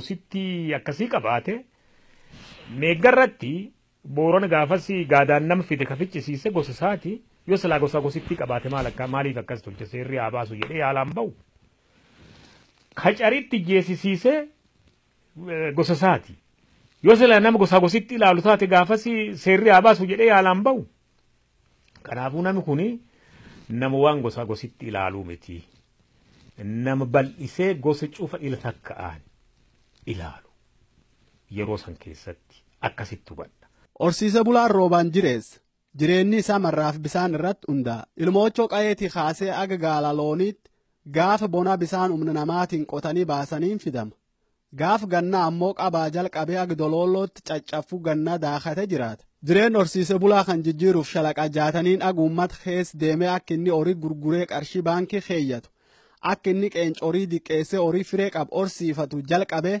Usitti akkasii qabaate meeggarratti boorana gaafas gaadaan nama fide ka ficcisiise gosa isaati yoo silaa gosa gosittii qabaate maal akka maaliif akkas tolche seerri haa baasu jedhee yaalaan ba'u. Kacaritti jeesisiisee gosa isaati. Yoo sila nama gosaa gositti ilaalu taate gaafas seerri haa baasu jedhee yaalaan bahu. Kanaafuu namni kun nama waan gosaa gositti ilaaluu miti. Nama bal'isee gosa cufa ila takka'aan ilaalu. Yeroo san keessatti akkasitti hubadha. Horsiisa bulaan roobaan jireessa. Jireenni isaa marraaf bisaan irratti hundaa'a. Ilmoochoo qayeetii kaasee aga gaala looniitti gaafa bonaa bisaan humna namaatiin qotanii baasaniin fidama. Gaaf gannaa ammoo qabaa jalqabee aga doloolootti caccaffuu gannaa daakatee jiraata. Jireenni horsiise bulaa kan jijjiiruuf shalaqa jaataniin aga uummata keessa deemee akka inni horii gurguree qarshii baankii keeyyatu, akka inni qeenca horii diqqeessee horii firee qabu horsiifatu jalqabee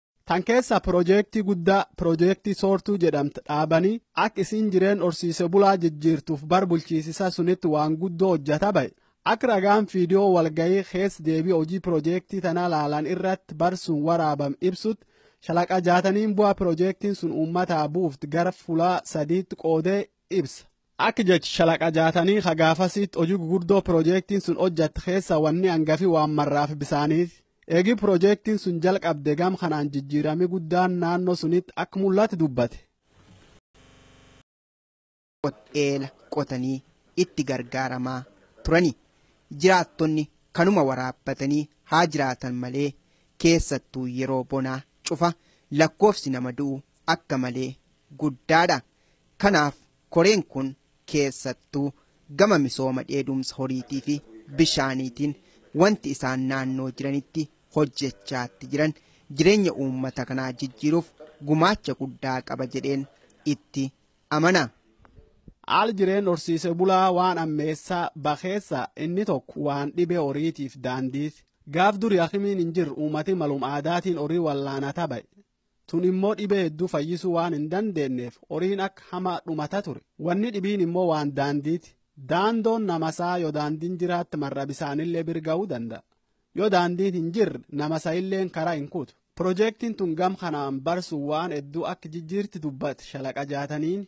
Tan keessaa piroojeektii guddaa piroojeektii soortuu jedhamtu dhaabanii akka isiin jireen horsiise bulaa jijjiirtuuf bar bulchiisisaa sunitti waan guddoo hojjata ba'e. Akka ragaan fiidiyoo walgahii keessa deebii hojii piroojeektii tanaa laalan irratti bar sun waraabam ibsutti shalaqa jaataniin bu'aa piroojeektiin sun uummataa buufti gara fulaa sadiitti qoodee ibsa. Akka jechi shalaqa jaatanii ka gaafasiitti hojii gugurdoo piroojeektiin sun hojjatte keessa wanni angafi waan marraafi bisaaniiti. Eegii piroojeektiin sun jalqabde gam kanaan jijjiirami guddaan naannoo sunitti akka mul'ate dubbate. qot-eela qotanii itti gargaaramaa turani. Jiraattonni kanuma waraabbatanii haa jiraatan malee keessattuu yeroo bonaa cufa lakkoofsi nama du'u akka malee guddaadha. Kanaaf koreen kun keessattuu gama misooma dheedumsa horiitii fi bishaaniitiin wanti isaan naannoo jiranitti hojjechaatti jiran jireenya uummata kanaa jijjiiruuf gumaacha guddaa qaba jedheen itti amana. Haal jireen horsiise bulaa waan ammeessaa bakeessa inni tokko waan dhibee horiitiif daandiiti. Gaaf duri hakimiin hin jirre uummati malum aadaatiin horii wallaana tabaye. Tun immoo dhibee hedduu fayyisuu waan hin dandeenneef horiin akka hamaa dhumata ture. Wanni dhibiin immoo waan daandiiti. Daandoon namasaa yoo daandiin jiraatte marra bisaanillee bir ga'uu danda'a. Yoo daandiin hin jirre namasa illeen karaa hin kutu. Piroojeektiin tun gam kanaan barsuun waan hedduu akka jijjiirti dubbate shalaqa jaataniini.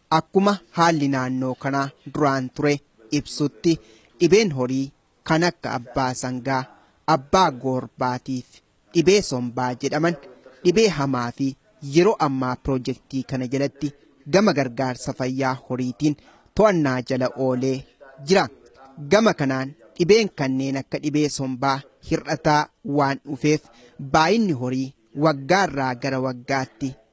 Akkuma haalli naannoo kanaa duraan ture ibsutti dhibeen horii kan akka abbaa sangaa, abbaa goorbaatiif dhibee sombaa jedhaman dhibee hamaa fi yeroo ammaa pirojektii kana jalatti gama gargaarsa fayyaa horiitiin to'annaa jala oolee jira. Gama kanaan dhibeen kanneen akka dhibee sombaa hir'ataa waan dhufeef baay'inni horii waggaarraa gara waggaatti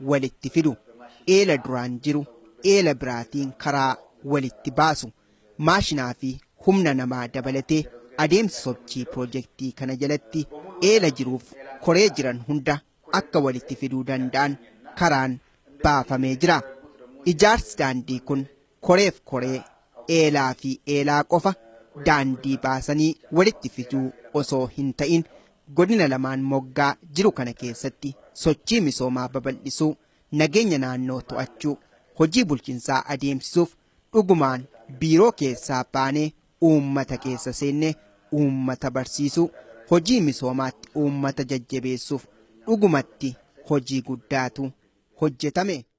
walitti fidu. Eela duraan jiru eela biraatiin karaa walitti baasu. Maashinaa fi humna namaa dabalatee adeemsi sochii pirojektii kana jalatti eela jiruuf koree jiran hunda akka walitti fiduu danda'an karaan baafamee jira. Ijaarsi daandii kun koreef koree, eelaa fi eelaa qofa daandii baasanii walitti fiduu osoo hin ta'in Godina lamaan moggaa jiru kana keessatti sochii misoomaa babal'isuu, nageenya naannoo to'achuu, hojii bulchinsaa adeemsisuuf dhugumaan biiroo keessaa baanee uummata keessa seennee uummata barsiisuu, hojii misoomaatti uummata jajjabeessuuf dhugumatti hojii guddaatu hojjetame.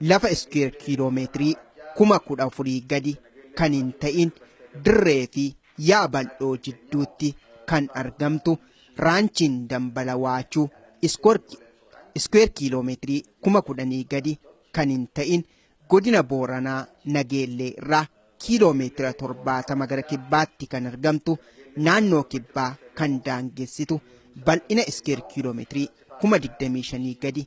lafa iskuweer kiiloo meetirii kuma kudha afurii gadi kan hin ta'in dirree fi yaa bal'oo jidduutti kan argamtu raanchiin dambala waachuu iskuweer kiiloo meetirii kuma kudhanii gadi kan hin ta'in godina booranaa nageellee irraa kiiloo meetira torbaatama gara kibbaatti kan argamtu naannoo kibbaa kan daangessitu bal'ina iskuweer kiiloo meetirii kuma digdamii shanii gadi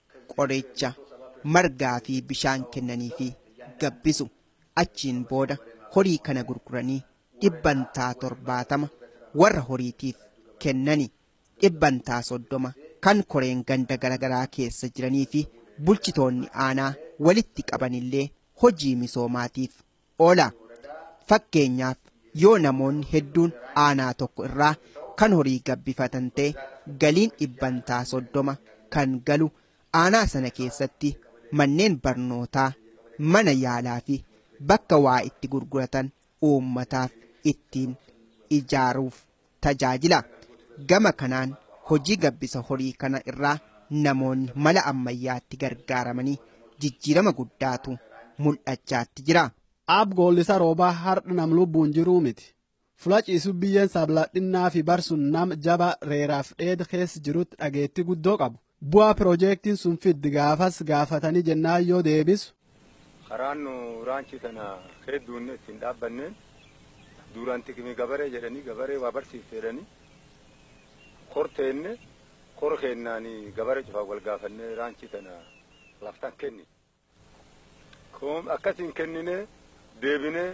qoricha margaa fi bishaan kennanii fi gabbisu achiin booda horii kana gurguranii dhibbantaa torbaatama warra horiitiif kennani dhibbantaa soddoma kan koreen ganda garagaraa keessa jiranii fi bulchitoonni aanaa walitti qabanillee hojii misoomaatiif oola. Fakkeenyaaf yoo namoonni hedduun aanaa tokko irraa kan horii gabbifatan ta'e galiin dhibbantaa soddoma kan galu aanaa sana keessatti manneen barnootaa, mana yaalaa fi bakka waa itti gurguratan uummataaf ittiin ijaaruuf tajaajila. Gama kanaan hojii gabbisa horii kana irraa namoonni mala ammayyaatti gargaaramanii jijjiirama guddaatu mul'achaatti jira. Aab Goollisa Roobaa hardha nam lubbuun jiruu miti. Fula ciisu biyyeen sabladhinnaa fi bar sun nam jaba reeraaf dheeda keessa jirutti dhageettii guddoo qabu. Bu'aa pirojeektiin sun fiddi gaafas gaafatanii jennaan yoo deebisu. Karaan nu raanchii tana kee duunne itti hin dhaabbanneen duuraan tikimi gabaree jedhanii gabaree waa barsiifte jedhanii kor teenne kor keennaan gabaree cufaaf wal gaafannee raanchii tana laftan kenni. Kun akkasiin kenninee deebinee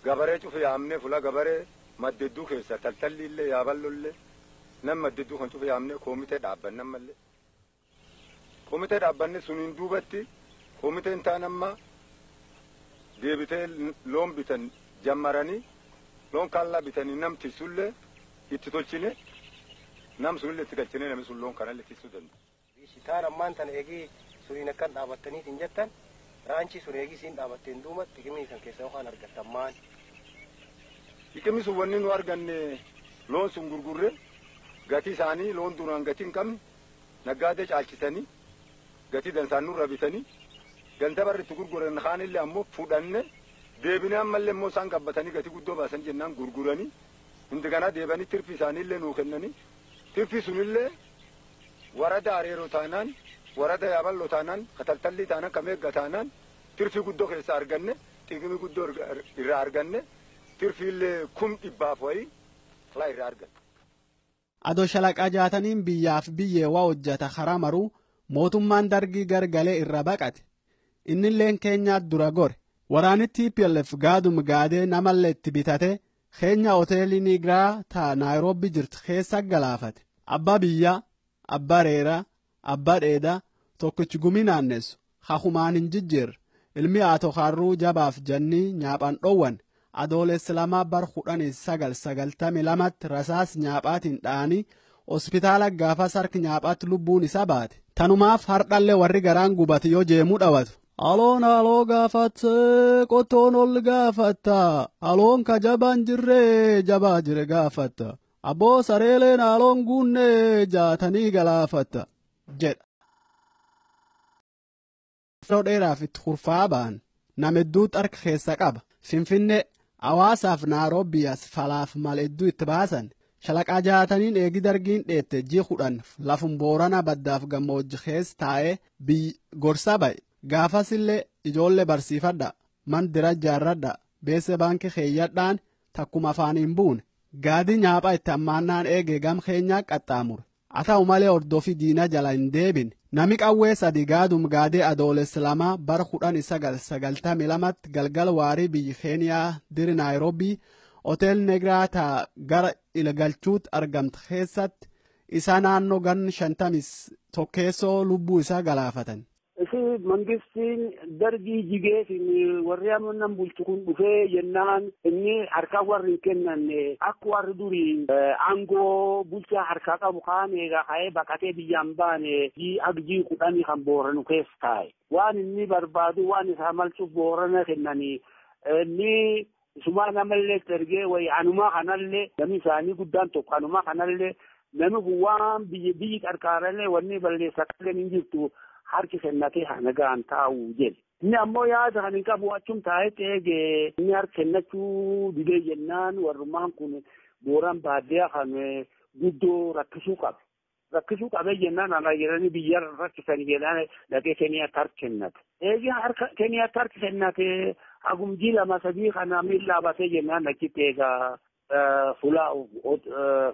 gabaree cufi yaamnee fula gabaree maddedduu keessa taltalli illee yaaballo illee nam maddedduu kan cufi yaamnee koomitee dhaabbanne ammallee. Koomitee dhaabbanne suniin duubatti koomiteen taan amma deebitee loon bitan jammaranii loon kaallaa bitanii nam tissullee itti tolchine nam sunillee itti galchinee namni sun loon kanallee tissuu danda'a. Taan ammaan tana eegii suniin akkan dhaabattaniitiin jettan raanchii sun eegii siin dhaabatteen duuba xiqimii san keessa yookaan argattan maan? Xiqimi sun wanni nu arganne loon sun gurgurre gatii isaanii loon duraan gatii hin qabne naggaadee caalchitanii gatii dansaan nurra bitanii ganda barri itti gurguran kaanillee ammoo fudhanne deebinee ammallee immoo isaan gabbatanii gatii guddoo baasan jennaan gurguranii hindiganaa deebanii tirfii isaaniillee nuu kennanii tirfii sunillee Warada Areero taanaan, Warada Yaaballo taanaan, ka Taltallii taanaan, ka Meegga taanaan tirfii guddo keessaa arganne, xiqimii guddo irraa arganne, tirfiille kum dhibbaaf wayii kla irraa arganne. Ado Shalaqa Jaataniin biyyaaf biyyee wa hojjata karaa maruu mootummaan Dargii gar galee irra baqate. Innilleen Keenyaat dura gore. Waraanni tplf gaadum gaadee namallee itti bitatee keenya hoteelii Niigiraa ta Naayiroobii jirtu keessa galaafate. Abbaa biyyaa, abbaa reeraa, abbaa dheedaa, tokkichi gumii naannessu, ka humaan hin jijjiirre, ilmi Aato Kaarruu jabaaf jannii nyaaphaan dhoowwane, Adoolessa 2 bar 1992tti rasaas nyaaphaatiin dha'anii hospitaala gaafas harki nyaaphaatti lubbuun isaa baate. Tanumaaf hardhalle warri garaan gubate yoo jeemuu dhawatu, Aloon haaloo gaafatte qottoon ol gaafatta aloon ka jabaan jirree jabaa jire gaafatta abboo sareeleen haaloon guunnee jaatanii galaafatta jedha. Yeroo dheeraaf itti kurfaa ba'an nama hedduu xarka keessa qaba finfinnee hawaasaaf naaroobiyaas falaaf mal hedduu itti baasan shalaqaa jaataniin eegi dargiin dheette ji kudhan lafun boorana baddaaf gammoojji keessa taa'ee biyyi gorsaa baye. Gaafasillee ijoollee barsiifadhaa, man dira ijaarradhaa, beessee baankii keeyyadhaan takkuma afaan hin buune. Gaadii nyaaphaa itti hammaannaan eegee gam keenyaa qaxxaamure. Haa ta'u malee hordofii diinaa jala hin deebine. Nami qawwee sadii gaadum gaadee Adoolessa 2 bara 1992tti galgala waarii biyyi Keeniyaa diri Naayiroobii hotel Negraa taa gara Ilagalchuutti argamtu keessatti Isa naannoo gan shantamis tokkeessoo lubbuu isaa galaafatan. Isi mangistiin dargii jigeetiin warri amma nan bulchu kun dhufee jennaan inni harkaa warri hin kennanne akka warri durii aangoo bulchaa harkaa qabu kaan eegaa ka'ee baqatee biyyaan baane jii agjii kudhanii kan booranu keessa taa'e. Waan inni barbaadu waan isaa malchuuf boorana kennanii inni Isumaa namallee itti ergee wayii anumaa kanallee namni isaanii guddaan tokko anumaa kanallee namni kun waan biyyi biyyi qarqaarallee wanni balleessa qalleen hin jirtu harki kennatee haa nagaan taa'u jedhe. Inni ammoo yaada kan hin qabu achum taa'etti eege inni harki kennachuu didee jennaan warrumaan kun booraan baadiyyaa kan guddoo rakkisuu qabe. rakkisuu qabee jennaan alaa jedhanii biyya rakkisanii jennaan dhaqee Keniyaatti harka kennate. Eegi harka Keniyaatti harka kennate hagumjii lama sadii kana miillaa batee jennaan achitti eegaa fulaa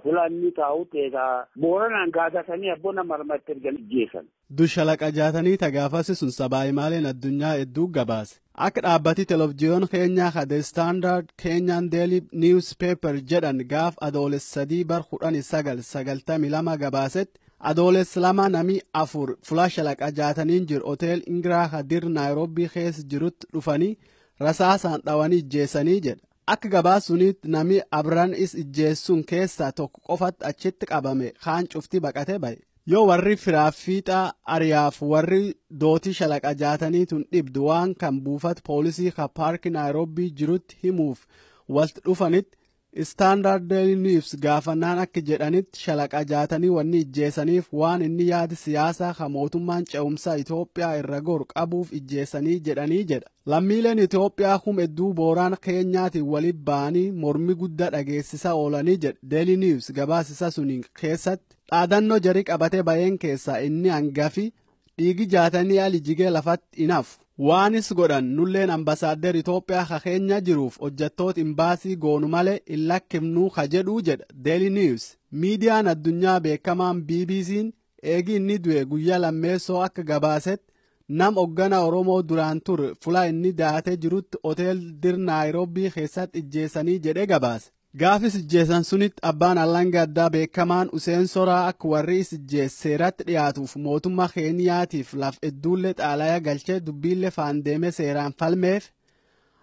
fulaa inni taa'utti eegaa booranaan gaadatanii abbona marmatti ergan jeesan. Du shalaqa jaatanii ta gaafasi sun sabaahimaaleen addunyaa edduu gabaase. Akka dhaabbati televjiyoon Keenyaa ka The Standard Kenyan Daily News Paper jedhan gaaf Adooles 3 bar 19 92 gabaasetti Adooles 2 nami afur fula shalaqa jaataniin jiru hotel Ingiraa ka dir Naayiroobii keessa jirutti dhufanii rasaasaan dhawanii ijjeessanii jedha. Akka gabaas suniitti namii Abran is ijjeessun keessaa tokko qofatt achitt qabame kaan cuftii baqatee baye. Yoo warrii firaaf fiixaa ariyaaf warri dootii shalaqa jaatanii tun dhibd waan kan buufat poolisii ka paarki Naayroobbii jirutt himuuf walt dhufanitt Standard Daily News gaafannaan akki jedhanitt shalaqa jaatanii wanni ijjeesaniif waan inni yaad siyaasaa ka mootummaan ce'umsaa Itoophiyaa irra goru qabuuf ijjeesanii jedhanii jedha. Lammiileen Itoophiyaa kum hedduu Booraan Keenyaatiin wali ba'anii mormi guddaa dhageessisa oolanii jedhe Daily News gabaasisa suniin keessatti dhaadannoo jari qabate bayeen keessaa inni hangafi dhiigi jaatanii ali jigee lafatti hin hafu. Waanis godhan nulleen ambasaader Itoophiyaa ka keenya jiruuf hojjattoota imbaasii goonu malee hin lakkifnuu ka jedhuu jedha Daily News. Miidiyaan addunyaa beekamaan BBC'n Eegi inni du'e guyyaa lammeessoo akka gabaasetti nam hoggana Oromoo duraan ture fulaa inni daatee jirutti hotel Dir Naayiroobii keessatti ijjeessanii jedhee gabaase. Gaafis ijjeessan sunitti abbaan alanga addaa beekamaan Useen Soraa akka warri is ijjeesse seeratti dhiyaatuuf mootummaa Keeniyaatiif laf hedduullee xaalaya galchee dubbiillee faan deemee seeraan falmeef.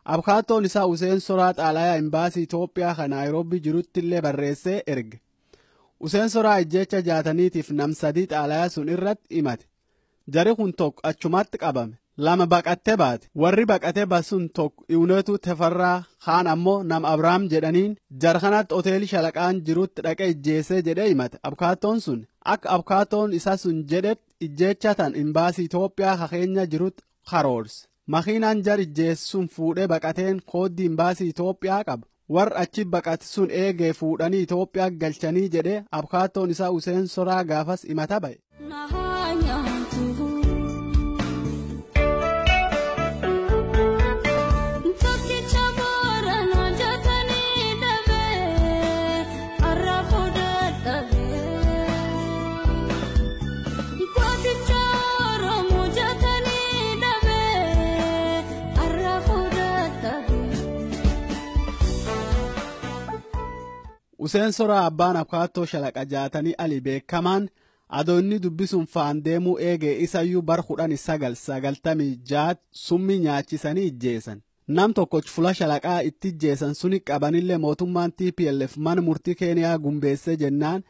Abkaattoon isaa Useen Soraa xaalaya imbaasii Itoophiyaa kan Naayiroobii jirutti illee barreessee erge. Useen soraa ijjeecha jaataniitiif nam sadii xaalaya sun irratti himate. Jari kun tokko achumatti qabame. Lama baqattee baate. Warri baqatee basun tokko Iwuneetuu Tefarraa kaan ammoo nam Abrahaam jedhaniin jara kanatti hoteelii shalaqaan jirutti dhaqee ijjeessee jedhee himate. Abkaattoon sun akka abkaattoon isa sun jedhetti ijjeecha tan imbaasii Itoophiyaa ka keenya jirutti karoorse. Makiinaan jar ijjeesse sun fuudhee baqateen kooddii imbaasii Itoophiyaa qaba. Warri achi baqate sun eegee fuudhanii Itoophiyaa galchanii jedhee abukaattoon isaa Useen Soraa gaafas himata ba'e. Useen soraa abbaan akaattoo shalaqa jaatanii ali beekamaan adoonni dubbisuun faan deemuu eegee isayyuu bar kudhan sagal sagaltamii jaat summii nyaachisanii ijjeessan. Nam tokkoch fula shalaqaa itti ijjeesan suni qabanille mootummaan tplf mana murtii Keeniyaa gumbeessee jennaan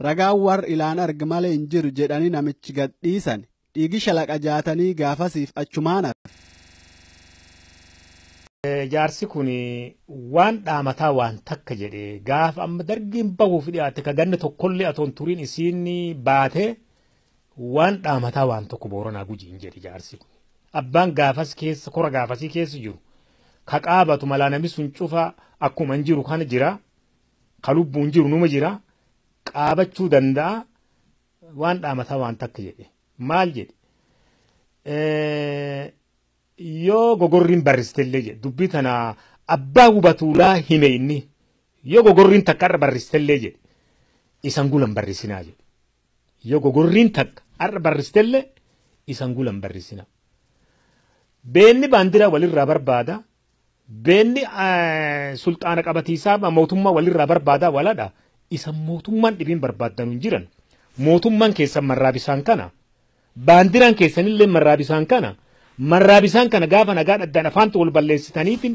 ragaan warr ilaan arg malee hin jiru jedhanii namich gad dhiisan. Dhiigi shalaqa jaatanii gaafasiif achumaan hafe. Jaarsi kun waan dhaamataa waan takka jedhe gaafa amma dargiin bahuuf dhiyaatte ka ganna tokkollee atoon turiin isiin baate Waan dhaamataa waan tokko booranaa gujiin jedhe jaarsi kun. Abbaan gaafas keessa kora gaafasii keessa jiru ka qaabatu malaa namni sun cufaa akkuma hin jiru kana jira ka lubbuun jiru numa jira qaabachuu danda'a waan dhaamataa waan takka jedhe maal jedhe Eh, yoo gogorriin barristellee jedhe dubbii tana abbaa hubatuulaa hime inni yoo gogorriin takka irra barristellee jedhe isan gulan barrisinaa jedhe Yo gogorriin takka ar'a barristelle isan gula hin barrisina. Beenni baandira walirraa barbaada, beenni sulxaana qabatiisaa mootummaa walirraa barbaada waladha. Isan mootummaan dhibiin barbaaddanu hin jiran. Mootummaan keessan marraa bisaan kana. Baandiraan keessanillee marraa bisaan kana marraa bisaan kana gaafa nagaa dhaddaan afaantu wal balleessitaniitiin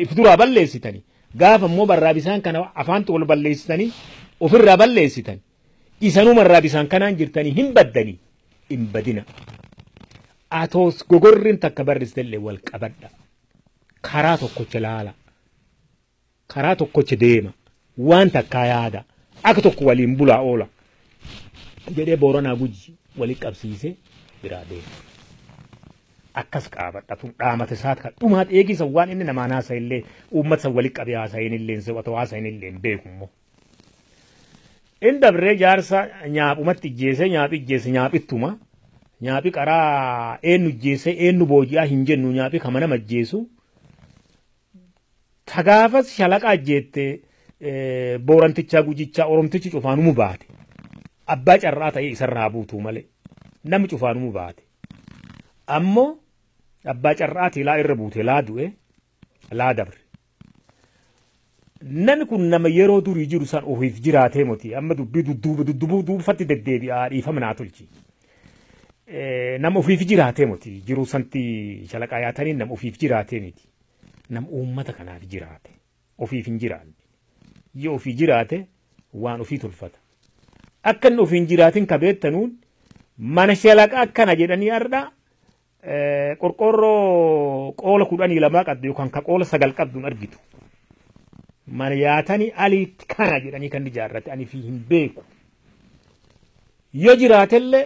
if duraa balleessitani gaafa immoo marraa bisaan kana afaantu wal balleessitanii ofirraa balleessitan isanuu marraa bisaan kanaan jirtanii hin baddanii hin badina. Atoos gogorriin takka barristellee wal qabadha karaa tokkocha laala. Karaa tokkocha deema, waan takkaa yaada, akka tokko waliin bulaa oola jedhee Booranaa Guji walitti qabsiisee biraa deema. Akkas qaabadha tun dhaamata isaat kan dhumaa dheegisa waan inni namaan haasa'e illee uummata san walitti qabee haasa'e inni illee se'u otoo haasa'e inni illee hin beeku immoo. Inni dabree jaarsa nyaaphumatti ijjeesee nyaaphi ijjeese nyaaphittuma nyaaphi qaraa eenyu ijjeesee eenyu booji'aa hin jennu nyaaphi kama nama ijjeesu Ka gaafas shalaqa ajjeette boorantichaa gujichaa oromtichi cufaanumu baate. Abbaa carraa ta'ee isarra haa buutuu malee namni cufaanumu baate. Ammoo abbaa carraati laa irra buute laa du'e laa dabre. Nami kun nama yeroo durii jiru san ofiif jiraatee moti amma dubbii dudduuba duddubuu duubfatti deddeebi'aa dhiifama naa tolchi. Nama ofiif jiraatee moti jiru santi shalaqaa yaatanii nama ofiif jiraatee miti. nam uummata kanaaf jiraate ofiif hin jiraanne yoo ofii jiraate waan ofii tolfata akka inni ofiin jiraatin ka beektanuun mana shalaqa akkana jedhanii har'a eh, qorqoorroo qoola kudhanii lamaa qabdu yookaan ka qoola sagal qabdu hin argitu mana yaatanii aliitti kana jedhanii kan ijaarrate ani fi hin beeku yoo jiraatellee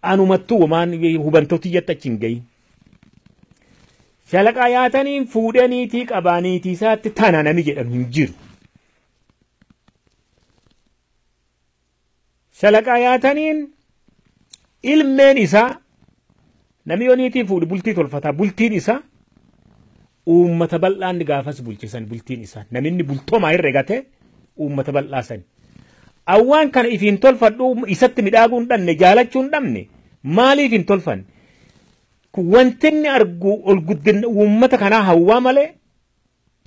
anumattuu waan hubantooti jetta achi hin gahin Shalaqa yaataniin fuudhee niitii qabaa niitii isaatti tana nami jedhamu hin jiru. Shalaqa yaataniin ilmeen isaa nami yoo niitii fuudhu bultii tolfataa bultiin isaa Uummata bal'aa inni gaafas bulche san bultiin isaa naminni bultomaa herregate uummata bal'aa sani. Awwaan kana if hin tolfadhu isatti midhaaguu hin dhabne jaalachuu hin dhabne maaliif hin tolfanne? Kun wanti inni argu ol guddinna uummata kanaa hawwaa malee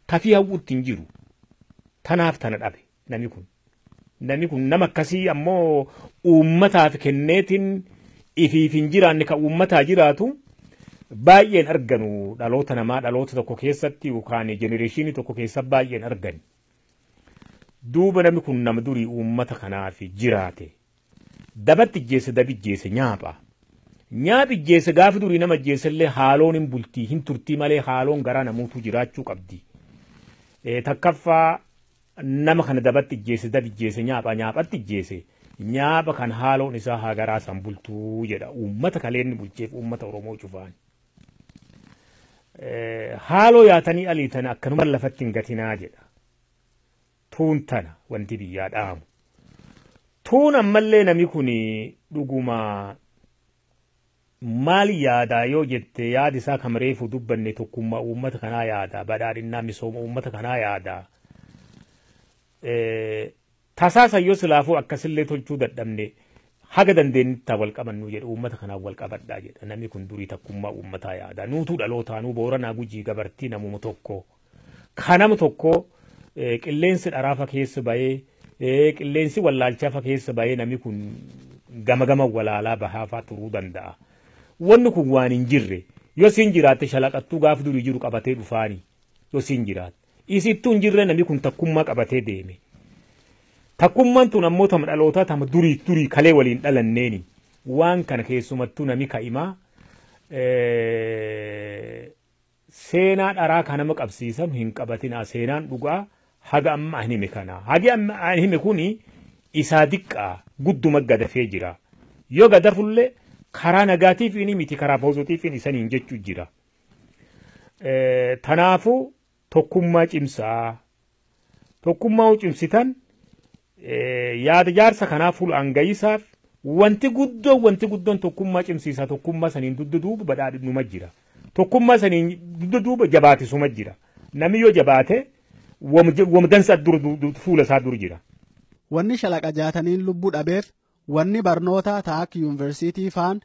tafii hawwuutti hin jiru. Tanaaf tana dhabe. Nami kun nami kun nama akkasii ammoo uummataaf kenneetiin ifiif hin jiraanne kan uummataa jiraatu baay'een arganu dhaloota namaa dhaloota tokko keessatti yookaan jenereeshinii tokko keessa baay'een argani. Duuba nami kun nama durii uummata kanaaf jiraate. Dabatti ijjeesse dabi ijjeesse nyaapha. Nyaaphi ijjeesse gaafi durii nama ijjeessellee haaloon hin bultii hin turtii malee haaloon garaa namuutuu jiraachuu qabdi. Eh, Takkaffaa nama kana dabatti ijjeesse dabi ijjeesse nyaapha nyaaphatti ijjeesse nyaapha kan haaloon isaa haa garaa isaan bultuu jedha uummata kaleenni bulcheef uummata Oromoo cufaan. Eh, Haaloo yaatanii aliitan akkanuma lafatti hin gatinaa jedha. tuun tana wanti biyyaa dhaamu tuun ammallee nami kun dhuguma maal yaadaa yoo jette yaadi isaa kan reefu dubbanne tokkummaa uummata kanaa yaada badhaadhinnaa misooma uummata kanaa yaada tasaasa yoo silaafuu akkasillee tolchuu dadhabne haga dandeenyatti taa wal qabannu jedhe uummata kanaan wal qabadhaa jedha namni kun durii takkummaa uummataa yaada nuutuu dhalootaanuu booranaa gujii gabartii namuma tokko. Ka nama tokko qilleensi dharaafa keessa bayee qilleensi wallaalchaafa keessa bayee nami kun gama gama walaalaa bahaafaa turuu danda'a. Wanni kun waan hin jirre yoo siin jiraatte shalaqattuu gaaf durii jiru qabatee dhufaani yoo siin jiraatte. Isittuu hin jirre nami kun takkummaa qabatee deeme. Takkummaan tun ammoo tama dhalootaa tama durii durii kalee waliin dhalanneeni. Waan kana keessumattuu nami ka'imaa Seenaa dharaa ka nama qabsiisanu hin qabatinaa, seenaan dhugaa haga amma an hime kana. Hagi amma an hime kuni isaa diqqaa, gudduma gadafee jira. Yo gadafulle karaa nagaatiifiini miti karaa poozotiifiin isaniin jechu jira. Tanaafu tokkummaa cimsaa, Tokkummaa cimsitan yaada jaarsa kanaa fuula hangayisaaf wanti guddoon wanti guddoon tokkummaa cimsiisa tokkummaa saniin dugda duuba badhaadhinuma jira. Tokkummaa saniin dugda duuba jabaatisuma jira. Namni yoo jabaate wamdansa fuula isaa dur jira. Wanni shalaqa jaataniin lubbuu dhabeef wanni barnootaa taak yuunivarsiitii faan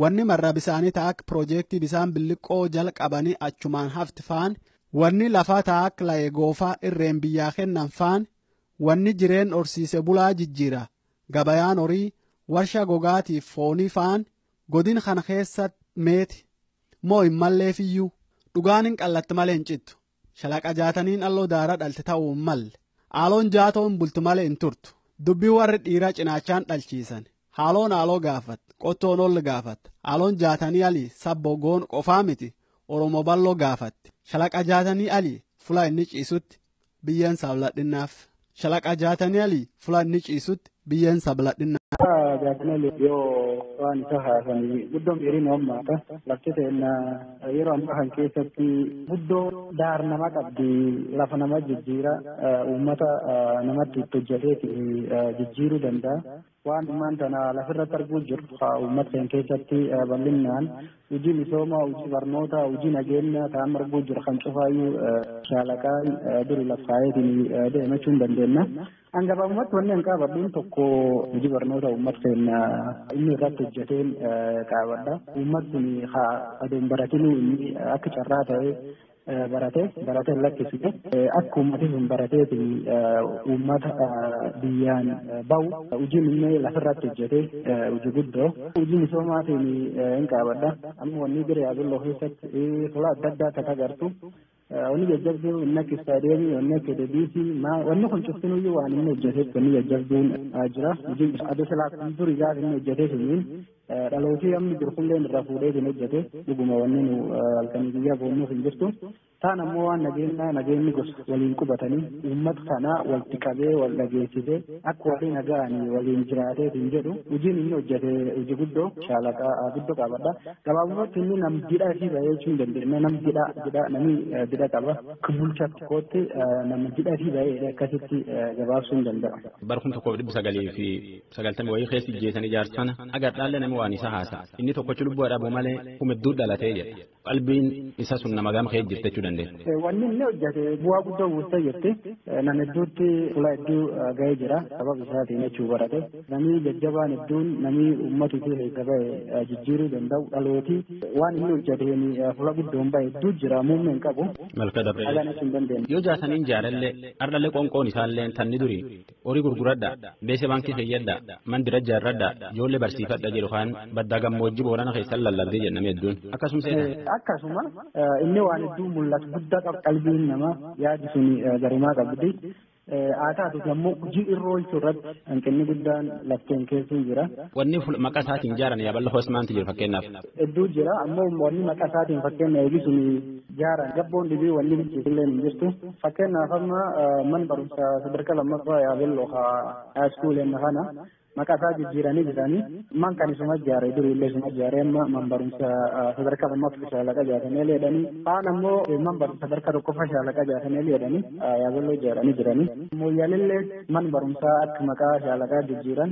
Wanni marra bisaanii ta akka piroojeektii bisaan billiqqoo jalqabanii achumaan hafti faan, wanni lafaa ta akka laye goofaa irreen biyyaa kennan faan, wanni jireen horsiise bulaa jijjiira, gabayaan horii, warsha gogaatiif foonii faan godin kana keessatti meeti. Moo hin malleefiyyuu. Dhugaan hin qallatti malee hin cittu. Shalaqa jaataniin alloo daara dhalte ta'uu hin malle. Aaloon jaatoon bultu malee hin turtu. Dubbii warri dhiiraa cinaachaan dhalchiisan. Haaloon aaloo gaafat, qottoon olli gaafat. Aaloon jaatanii ali sabbo goon qofaa miti Oromoo balloo gaafatti. Shalaqa jaatanii ali fulaa inni ciisutti biyyeen saabladhinnaaf. Shalaqa Jaataniyali fula inni ciisutti biyyeen isaa baladhinna. Shalaqa Jaataniyali yoo waan isa haasanii guddoon dheerina ummata lafti seenna yeroo ammaa kan keessatti guddoo daar nama qabdi lafa nama jijjiira ummata namatti itti hojjateeti jijjiiruu danda'a. Waan ammaan tana lafirratti arguu jirru haa uummata keenya keessatti bal'innaan hojii misoomaa, hojii barnootaa, hojii nageenyaa ta'an arguu jirra kan cufaayyuu shaalaqaan duri laf kaayeetiin deema jechuun dandeenya. An gabaabumatti wanni an qaabadhuun tokko hojii barnoota uummata keenya inni irratti hojjeteen qaabadha. Uummatni haa adoon baratinuu inni akka carraa ta'ee barate barate hin lakkisne akka ummati sun barateeti ummata biyyaan bahu hojii inni lafirratti hojjete hojii guddoo hojii misoomaatiin hin qaabadha amma wanni bira yaabilloo keessatti tola adda addaa akka agartu wanni jajjabduu inni akka istaadiyeemii wanni akka deebiisii wanni kun cuftinuyyuu waan inni hojjeteef wanni jajjabduun jira hojii adda silaa kun duri gaafa inni hojjetee suniin Dhalootii amma jiru kunillee irraa fuudhee hin hojjete dhuguma wanni nu halkanii guyyaa boonnuuf hin jirtu. Taan ammoo waan nageenyaa nageenyi gosa waliin qubatanii uummata kana walitti qabee wal dhageessisee akka waliin naga'anii waliin jiraatee hin jedhu hojiin inni hojjete hojii guddoo shaalaqaa guddoo qabadha. Gabaabumatti inni nam didhaa fi bahee jechuu hin dandeenye nam didhaa didhaa namni didhaa qaba. Bulchaa tokkootti nama didhaa fi bahee akkasitti gabaabsuu hin danda'amu. Bara kuma tokkoof dhibba sagalii fi sagaltamii wayii keessa ijjeesan ijaarsu sana agadhaallee namni waan isa haasa inni tokkochi lubbuu dhabu malee humidduu dhalatee jedha qalbiin isa sun nama gama kee jirte jechuu dandeenya. Wanni inni hojjete bu'aa guddaa buusa jette nama hedduutti fuula hedduu ga'ee jira sababa isaatiin jechuu barate namni jajjabaan hedduun namni uummata isii keessa ba'e jijjiiruu danda'u dhalooti waan inni hojjeteen fuula guddoon ba'e hedduu jira muummee hin qabu. Malka dabree. Yoo jaasaniin jaarallee har'allee qoonqoon isaallee tanni durii Horii gurguradhaa, beese baankii keeyyadhaa, mandira ijaarradhaa, ijoollee barsiifadhaa jedhu kaan baddaa gammoojjii Boorana keessan lallabdee jedha namni hedduun. Akkasum seetan. Akkasuma inni waan hedduu mul'atu guddaa qaba qalbiin namaa yaadi sun garumaa qabdi. Haa taatuuti ammoo hojii irra oolchuu irratti hanqinni guddaan lafteen keessuu jira. Wanni maqaa isaatiin ijaaran yaaballa hoos maanti jiru fakkeenyaaf. Hedduu jira ammoo wanni maqaa isaatiin fakkeenya eegisuun Jaara gabboon dhibii wanni bilchiisillee hin jirtu. Fakkeenyaaf amma man barumsa sadarkaa lammaffaa yaabelloo haa haayiskuuleen kana maqaa isaa jijjiiranii jiranii man kan isuma ijaare duriillee isuma ijaare amma man barumsa sadarkaa lammaffaa shaalaqa jaatanii leedhanii kaan ammoo man barumsa sadarkaa tokkoffaa shaalaqa jaatanii leedhanii yaabelloo ijaaranii jiranii. Mooyyaalillee man barumsaa akka maqaa shaalaqaa jijjiiran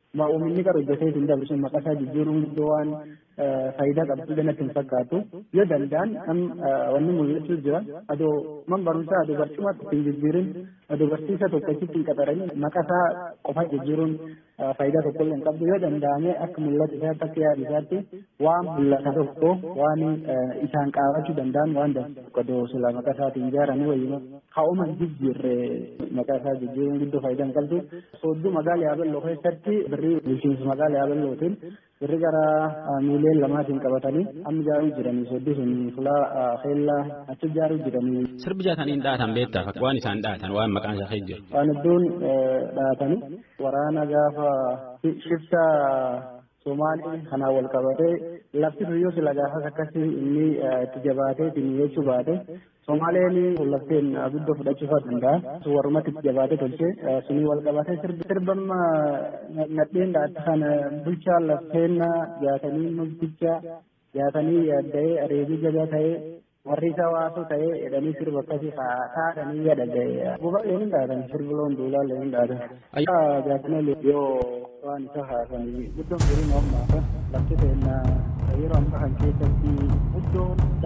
Waa uuminni qara hojjatee isin dabre sun maqaa isaa jijjiiruun guddoo waan faayidaa qabdu illee natti hin fakkaatu. Yoo danda'an am wanni mul'achuu jira. Adoo man barumsaa adoo barcuma tokko hin jijjiirin adoo barsiisa tokko achitti hin qaxarin maqaa isaa qofa jijjiiruun faayidaa tokko illee hin qabdu. Yoo danda'ame akka mul'atu isaatti akka yaadu isaatti waan mul'ata tokko waan isaan qaabachuu danda'an waan danda'u tokko adoo silaa maqaa isaatiin ijaaranii wayyuma. Haa'uma hin jijjiirre maqaa isaa jijjiiruun guddoo faayidaa hin qabdu. Soodduu magaalaa Yaabelloo keessatti birrii bulchiinsa magaalaa Yaabellootiin birri gara miiliyoon lamaatiin qabatanii amma ijaaruu jiranii soodduu sun fulaa keellaa achi ijaaruu jiranii. Sirbi jaataniin dhaatan beektaa fakka waan isaan dhaatan waan maqaan isaa keessa jiru. Waan hedduun dhaatanii waraana gaafa shiftaa Somaalee kanaan wal qabatee lafti sun yoo sila gaafas akkasii inni itti jabaatee itti mi'eessuu baate Somaaleen lafteen guddoo fudhachuu fa'aa danda'a. Warrumatti itti jabaatee tolchee sunii wal qabatee sirbamma nadheen dhaatti kana bulchaa lafteen jaatanii mukticha jaatanii yaadda'ee areegii jabaa ta'ee Warri isa waasuu ta'ee jedhanii sirba akkasii haadhanii yaada ga'e. Gubaalee hin dhaatan sirbiloon duulaalee hin dhaatan. Ayyaa jaatimalee yoo waan isa haasanii guddoon jiruun ammaa lafti ta'inna yeroo ammaa kan keessatti guddoon